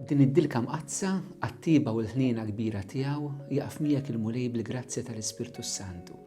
Din id-dilka mqaddsa għat-tiba u l-ħniena kbira tiegħu jaqaf miegħek il-Mulej bil-grazzja tal-Ispirtu s-Santu.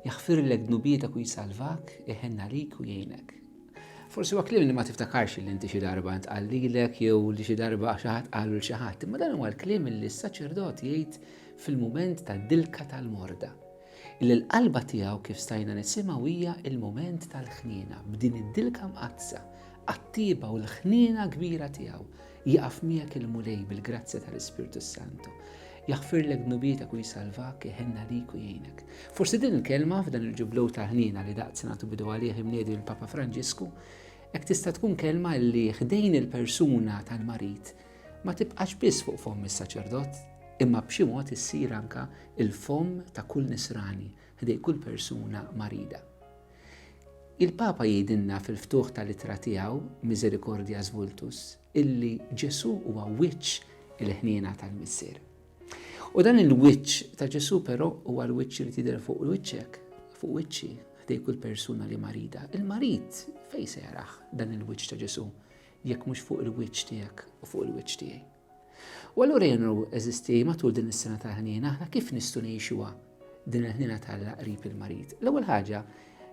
Jaħfirlek dnubietek u jsalvak, iħenn għalik u jgħinek. Forsi huwa kliem li ma tiftakarx li inti xi darba ntqal lilek jew li xi darba xi ħadd qalu l xi ħadd, imma dan huwa l-kliem li s-saċerdot jgħid fil-mument tad-dilka tal-morda. Illi l-qalba tiegħu kif stajna nisimgħu hija l-mument tal-ħniena b'din id-dilka mqaddsa għat-tieba u l-ħniena kbira tiegħu Jieqaf miegħek il-Mulej bil-grazzja tal-Ispirtu s-Santu. Jaħfirlek dnubietek u jsalvak, iħenna lejk u jgħinek. Forsi din il-kelma f'dan il-ġublew ta' ħniena li daqt nagħtu bidu għalih imniedi mill-Papa Franġisku, hekk tista' tkun kelma li ħdejn il-persuna tal-marid ma tibqax biss fuq fomm is-saċerdot, imma b'xi mod issir anka il-fomm ta' kull nisrani ħdej kull persuna marida. Il-Papa jgħidilna fil-ftuħ tal-ittra tiegħu, Misericordias Vultus, illi Ġesù huwa wiċċ il-ħniena tal-Missier. U dan il-wiċċ ta' Ġesù però huwa l-wiċċ li tidher fuq wiċċek, fuq wiċċi, ħdej kull persuna li marida. Il-marid fejn se jaraħ dan il-wiċċ ta' Ġesù jekk mhux fuq il-wiċċ tiegħek u fuq il-wiċċ tiegħi. U allura jien nru, għeżiżti, matul din is-sena tal-ħniena, aħna kif nistgħu ngħixuha din il-ħniena ta' Alla qrib il-marid. L-ewwel ħaġa,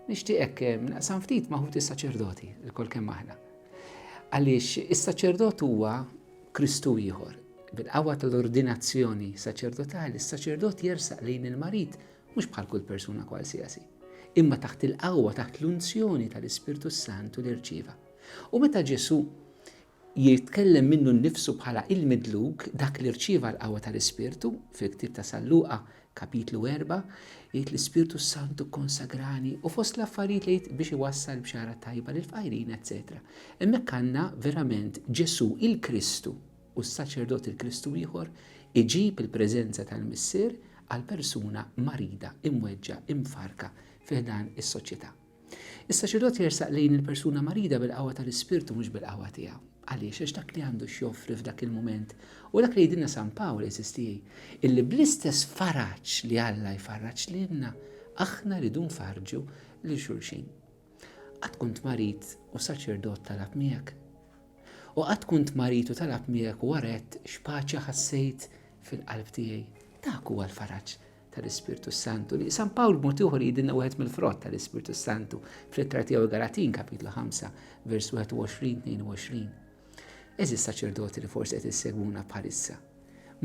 nixtieqek eh, naqsam ftit ma' ħuti saċerdoti, il-kol kemm aħna. Għaliex is-saċerdot huwa Kristu ieħor. Bil-qawwa tal-ordinazzjoni saċerdotali, is-saċerdot jersaq lejn il-marid mhux bħal kull persuna kwalsiasi, imma taħt il-qawwa taħt l-unzjoni tal-Ispirtu Santu li rċieva. U meta Ġesu Jitkellem minnu nnifsu bħala il-midluk dak li rċieva l-qawwa tal-Ispirtu, fil-ktieb ta' San Luqa, Kapitlu erbgħa, jgħid l-Ispirtu s-Santu kkonsagrani u fost l-affarijiet li jgħid biex iwassal bxara tajba lill-fqajrin eċċetera. Hemmhekk għandna verament Ġesù il-Kristu u s-saċerdot il-Kristu ieħor iġib il-preżenza tal-Missier għal persuna marida, imweġġgħa, imfarrka fi ħdan is-soċjetà. Is-saċerdot jersaq lejn il-persuna marida bil-qawwa tal-Ispirtu mhux bil-qawwa tiegħu. Għaliex? Għax dak li għandu x'joffri f'dak il-mument hu dak li jgħidilna San Pawl, għeżież tiegħi, illi bl-istess faraġ li Alla jfarraġ lilna, aħna rridu nfarrġu lil xulxin. Qatt kunt marid u saċerdot talab miegħek? U qatt kunt marid u talab miegħek u waret x'paċi ħassejt fil-qalb tiegħi? Dak huwa l-faraġ tal-Ispirtu Santu. Li San Pawl b'mod ieħor jidinna wieħed mill-frott tal-Ispirtu Santu fl-ittra tiegħu Galatin kapitlu 5 vers 21-22. Eżis saċerdoti li forsi qed issegwuna bħalissa.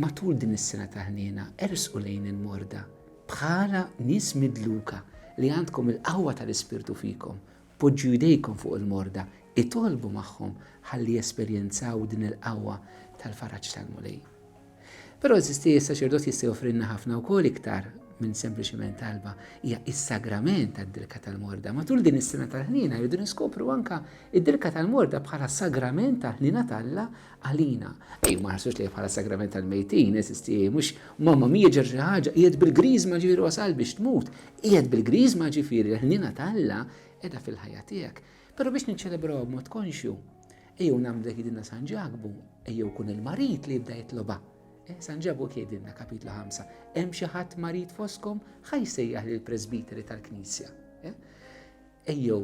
Matul din is-sena ta' ħniena ersqu lejn il-morda bħala nies midluka li għandkom il-qawwa tal-Ispirtu fikom Poġġu jdejkom fuq il-morda, itolbu magħhom ħalli jesperjenzaw din il-qawwa tal-faraġ tal-Mulej. Però, eżisti, is-saċerdot jista' joffrilna ħafna wkoll iktar minn sempliċiment talba. Hija is-sagrament tad-dilka tal-morda. Matul din is-sena tal-ħniena rridu niskopru anka id-dilka tal-morda bħala sagrament tal-ħniena t'Alla għalina. Ej, ma ħarsux lejh bħala sagrament tal-mejtin, eżisti, mhux mamma mija ġer xi ħaġa, qiegħed bil-griżma ġifieri wasal biex tmut. Qiegħed bil-Griżma ġifieri l-ħniena ta' Alla qiegħda fil-ħajja tiegħek. Però biex niċċelebrawha b'mod konxju, ejjew nagħmlu dak jgħidilna San Ġakbu, ejjew kun il-marid li jibda jitlobha. Eh, San Ġakbu jgħidilna kapitlu 5, hemm xi ħadd marid foskom ħaj sejjaħ lill-presbiteri tal-Knisja. Eh? Ejjew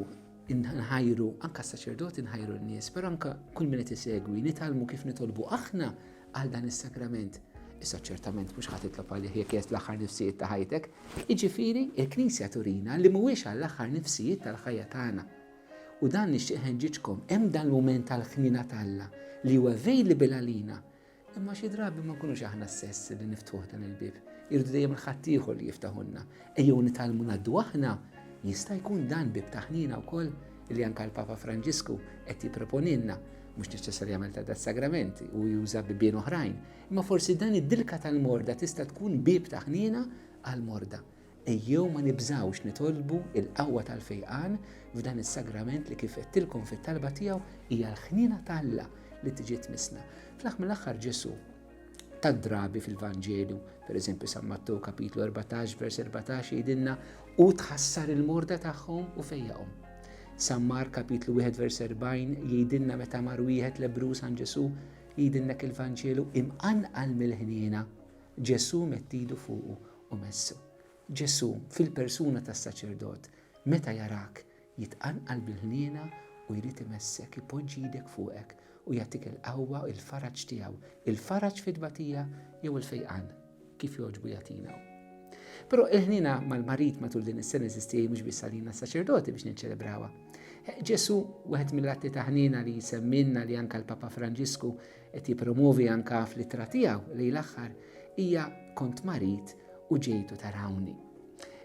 nħajru anka s-saċerdoti nħajru n-nies, però anka kull min qed isegwi nitgħallmu kif nitolbu aħna għal dan is-sagrament. Issa ċertament mhux ħadd itlob għalih jekk jest l-aħħar nifsijiet ta' ħajtek. Jiġifieri il-Knisja turina li mhuwiex għall-aħħar nifsijiet tal-ħajja tagħna. U dan nixtieq ħenġiġkom hemm dan l-mument tal-ħnina t'Alla li huwa available għalina Imma xi drabi ma nkunux aħna stess li niftuħ dan il-bib. Irdu dejjem il-ħaddieħor li jiftaħunna. Ejjew nitalmu naddu aħna jista' jkun dan bib taħnina wkoll li anka l-Papa Franġisku qed jipproponilna mhux neċessarjament ta' dat sagramenti u juża bibien oħrajn, imma forsi dan id-dilka tal-morda tista' tkun bib taħnina għal-morda. Ejjew ma nibżgħux nitolbu l-qawwa tal-fejqan f'dan is-sagrament li kif għedtilkom fit-talba tiegħu hija l-ħniena ta' Alla li tiġi tmissna. Fl-aħħar mill-aħħar Ġesù ta' drabi fil-Vanġelju, pereżempju San Mattew kapitlu 14 vers 14 jgħidilna u tħassar il-morda tagħhom u fejjaqhom. San Mar kapitlu 1 vers 40 jgħidilna meta mar wieħed lebru San Ġesù jgħidilna il-Vanġelu imqanqal mill-ħniena Ġesù mettidu fuqu u messu. Ġesù, fil-persuna tas-saċerdot, meta jarak, jitqanqal bil-ħniena u jrid imessek, ipoġġi idek fuqek u jagħtik il-qawwa u l-faraġ tiegħu, il-faraġ fit-tbatija jew il-fejqan, kif jogħġbu jagħtina hu. Però il-ħniena mal-marid matul din is-sena eżisti mhux biss għalina saċerdoti biex niċċelebrawha. Ġesu, wieħed mill-atti ta' ħniena li jsemminna li anka l-Papa Franġisku Qed jippromwovi anke fl-ittra tiegħu lejn l-aħħar hija kont marid u ġejtu tarawni.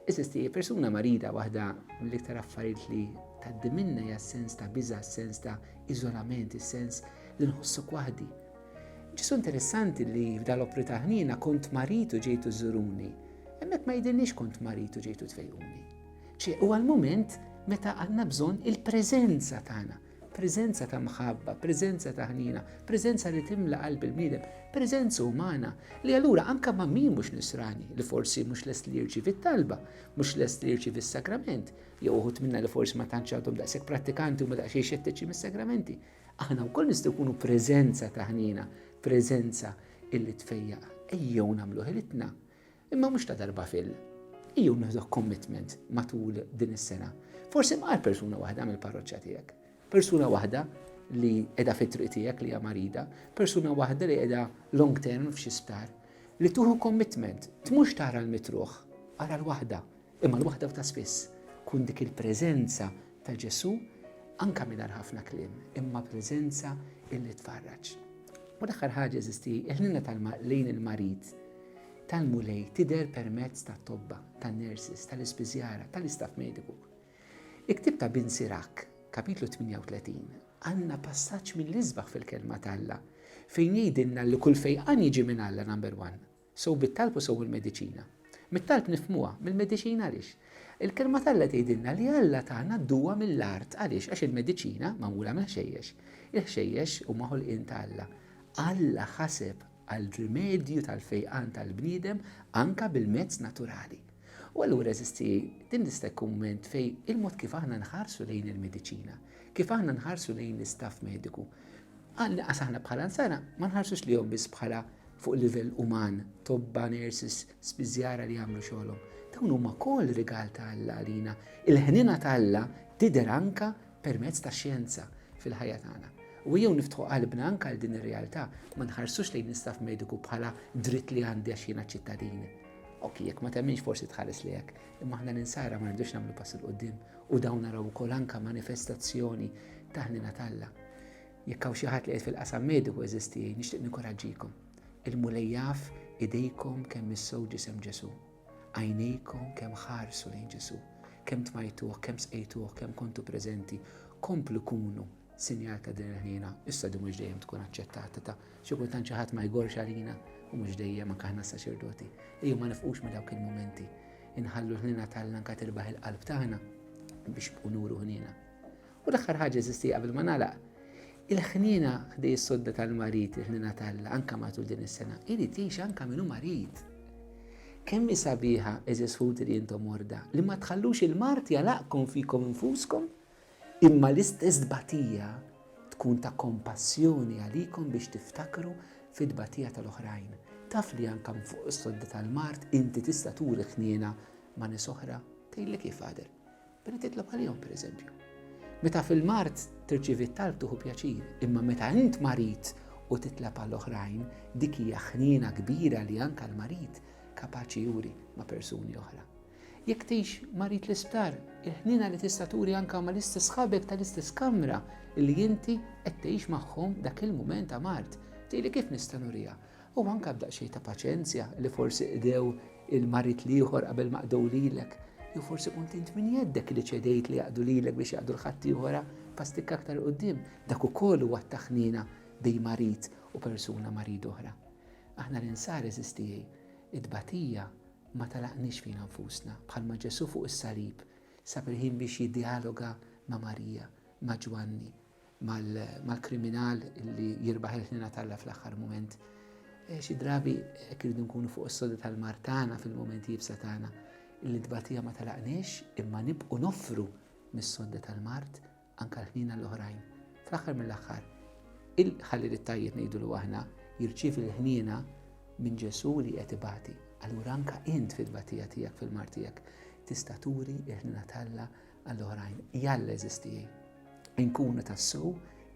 Eżisti, persuna marida waħda mill-iktar affarijiet li tgħaddi minnha hija s-sens ta' biża', s-sens ta' iżolament, is-sens li nħossok waħdi. Ġesu interessanti li f'dal opri ta' ħnina kont maritu ġejtu żuruni. Hemmhekk ma jidinniex kont maritu ġejtu tfejquni. Ċe huwa l-mument meta għandna bżonn il-preżenza tagħna Preżenza ta' mħabba, preżenza ta' ħniena, preżenza li timla qalb il-bniedem, preżenza umana li allura anke ma' min mhux nisrani li forsi mhux lest li jirċievi t-talba, mhux lest li jirċievi s-sakrament, jew uħud minna li forsi ma tantx għadhom daqshekk prattikanti u ma daqsxejn xettiċi mis-sagramenti. Aħna wkoll nistgħu jkunu preżenza ta' ħniena, preżenza illi tfejjaq. Ejjew nagħmlu ħilitna Imma mhux ta' darba fil. Iju nieħdok commitment matul din is-sena. Forsi mqar persuna waħda mill-parroċċa tiegħek. Persuna waħda li qiegħda fit-triq tiegħek li hija marida, persuna waħda li qiegħda long term f'xi sptar. Li tuħu commitment, tmurx tara l-mitruħ, ara l-waħda. Imma l-waħda u ta' spiss kun dik il-preżenza ta' Ġesu anka mingħajr ħafna kliem, imma preżenza illi tfarraġ. U l-aħħar ħaġa eżisti, il-ħnina tal-ma lejn il-marid tal-mulej tider permezz ta' tobba, ta' nurses, tal-ispiżjara, tal-istaff mediku. Iktib ta' Bin Sirak, kapitlu 38, għanna passaġġ mill-isbaħ fil-kelma tal-la, fejn jgħidilna li kull fejqan jiġi minn Alla number one, Sew bit-talb u sew bil-mediċina. Mit-talb nifhmuha, mill-mediċina għaliex? Il-Kelma t'Alla tgħidilna li Alla tana d-duwa mill-art. Għaliex? Għax il-mediċina magħmula mill-ħxejjex. Il-ħxejjex huma ħolqien ta' Alla. Alla ħaseb għal rimedju tal-fejqan tal-bniedem anke bil-mezz naturali. U allura eżisti din nista' jkun mument fejn il-mod kif aħna nħarsu lejn il-mediċina, kif aħna nħarsu lejn l-istaff mediku. Għanqas aħna bħala nsara ma nħarsux lihom biss bħala fuq livell uman, tobba, nurses, spiżjara li jagħmlu xogħolhom. Dawn huma wkoll rigal ta' Alla għalina. Il-ħnina ta' Alla tidher anka permezz tax-xjenza fil-ħajja tagħna. U ejjew niftħu qalbna anke għal din ir-realtà, ma nħarsux lejn l-istaff mediku bħala dritt li għandi għax jiena ċittadin. Ok, jekk ma temminx forsi tħares li hekk, imma aħna l-insara ma rridux nagħmlu pass il qudiem u dawn naraw ukoll anke manifestazzjoni ta' ħnina talla. Jekk hawn xi ħadd li qed fil-qasam mediku eżisti, nixtieq nikoraġġikom. Il-mulej jaf idejkom kemm issew ġisem Ġesu. Għajnejkom kemm ħarsu lejn Ġesù, kemm tmajtuh, kemm sqejtuh, kemm kontu preżenti, komplu kunu sinjal ta' din il-ħniena. Issa di mhux dejjem tkun aċċettata ta' xi kultant xi ħadd ma jgorx għalina u mhux dejjem anke aħna s-saċerdoti. Ejjew ma nifqux minn dawk il-mumenti. Inħallu l-ħniena tal-lanka tirbaħ il-qalb tagħna biex bqu nuru ħniena. U l-aħħar ħaġa eżisti qabel ma nagħlaq. Il-ħniena ħdej is-sodda tal-marid, il-ħniena tal anka matul din is-sena, irid jgħix anka minnu marid. Kemm hi sabiħa eżis ħuti li intom morda li ma tħallux il-mart jalaqkom fikom infuskom, imma l-istess tbatija tkun ta' kompassjoni għalikom biex tiftakru fid-tbatija tal-oħrajn. Taf li anka fuq is-sodda tal-mart inti tista' turi ħniena ma' nies oħra, tgħidlek kif għadel. Meta titlob għalihom, pereżempju. Meta fil-mart tirċievi t-talb tuħu pjaċir, imma meta int marid u titlab għal oħrajn, dik hija ħniena kbira li anke l-marid kapaċi juri ma' persuni oħra. Jekk tgħix marid l-isptar, il-ħniena li tista' turi anke ma' l-istess ħabek tal-istess kamra li inti qed tgħix magħhom dak il-mument ta' mart. Tgħidli kif nista' nuriha? u anke b'daqsxejn ta' paċenzja li forsi qdew il-marid l-ieħor qabel ma qdew lilek, jew forsi kont int minn jeddek li ċedejt li jaqdu lilek biex jaqdu l-ħaddieħora pastikka aktar quddiem, dak ukoll huwa t-taħnina bejn marid u persuna marid oħra. Aħna l-insar eżistijej, it-tbatija ma talaqniex fina nfusna, bħalma Ġesu fuq is-salib sab il-ħin biex jiddialoga ma' Marija, ma' Ġwanni, mal-kriminal li jirbaħ il-ħnina talla fl-aħħar moment. Eh, xi drabi eh, kirridu nkunu fuq is-soda tal-mar tagħna fil-momenti jibsa tagħna illi tbatija ma talaqniex imma nibqu noffru mis-soda tal-mart anka l-ħnina l-oħrajn. Fl-aħħar mill-aħħar, il-ħalli li tajjeb ngħidu l aħna jirċiev il-ħnina minn Ġesu li qed ibati. Allura anka int fil-batija tiegħek fil-mar tiegħek tista' turi il-ħnina talla Għall-oħrajn, jalla eżisti nkunu tassu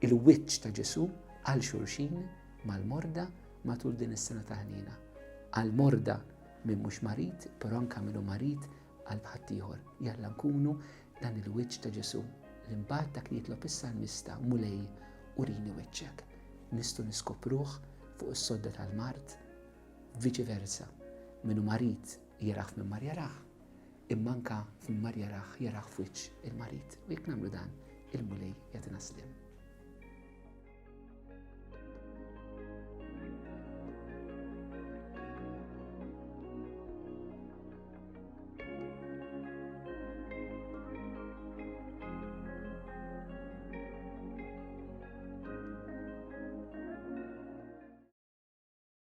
il-wiċċ ta' Ġesu għal xulxin mal-morda matul din is-sena ta' ħnina. Għal-morda minn mhux marid, però anke minnu marid għal bħaddieħor. Jalla nkunu dan il-wiċċ ta' Ġesu li mbagħad dak li jitlob issa mista mulej u rini wiċċek. Nistu niskopruh fuq is-sodda tal-mart, viċi versa. Minnu marid jiraħ minn mar jaraħ, Imma anke f'mar jarah, jarah f'wiċċ il-marid, u jekk nagħmlu dan, il-Mulej jagħtina sliem.